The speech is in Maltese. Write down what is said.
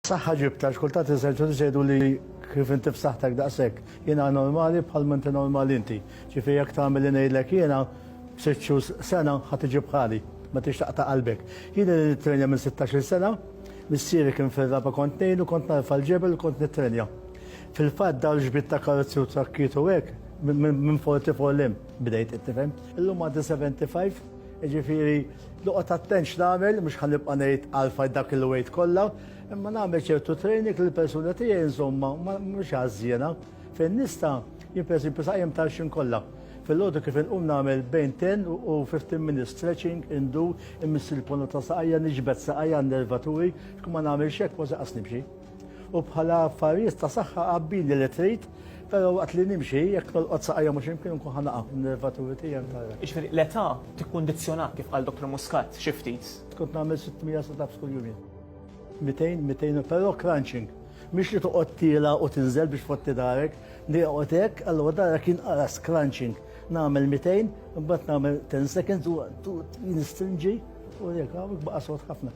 Saħħa ġibt għax kultant is-surgeons jgħidu li kif inti b'saħħtek daqshekk jiena normali bħal ma inti normali inti. Ġifieri jekk tagħmel li ngħidlek jiena b'sitt xhur sena ħa tiġi bħali, ma tridx taqta' qalbek. Jien ilni nittrenja minn sittax-il sena, missieri kien fir-raba' kont ngħinu, kont narfa' l-ġebel u kont nittrenja. Fil-fatt dawn l-ġbid ta' karozzi u trakkiet u hekk minn 44 'l hemm bdejt, qed tifhem. Illum għandi 75. Jiġifieri noqgħod attent x'nagħmel, mhux ħa nibqa' ngħid għalfajt dak il-weight kollha, imma nagħmel ċertu training li l-persuna tiegħi nżommha mhux għażżiena. Fejn nista' jien pereżempju saqajjem tal-xim kollha. Filgħodu kif inqum nagħmel bejn 10 u 15 minutes stretching, indur, imiss il-ponot ta' saqajja, niġbed saqajja għan-nervaturi, kma nagħmilx hekk ma se qas nimxi. U bħala affarijiet ta' saħħa qabbili li trid, però waqt li nimxi jekk nolqot saqajja mhux imkien nkun ħa naqa' nervaturi tiegħi ntarra. Jiġifieri l-età tikkundizzjonak kif qal Dottor Muscat xi ftit. Kont nagħmel 600 sit-ups kuljum jien. 200, 200, però crunching. Mhix li toqgħod tiela u tinżel biex fotti darek, li joqgħod hekk, allura darek jinqaras crunching. Nagħmel 200, imbagħad nagħmel 10 seconds u nistrinġi u jekk hawn baqa' sod ħafna.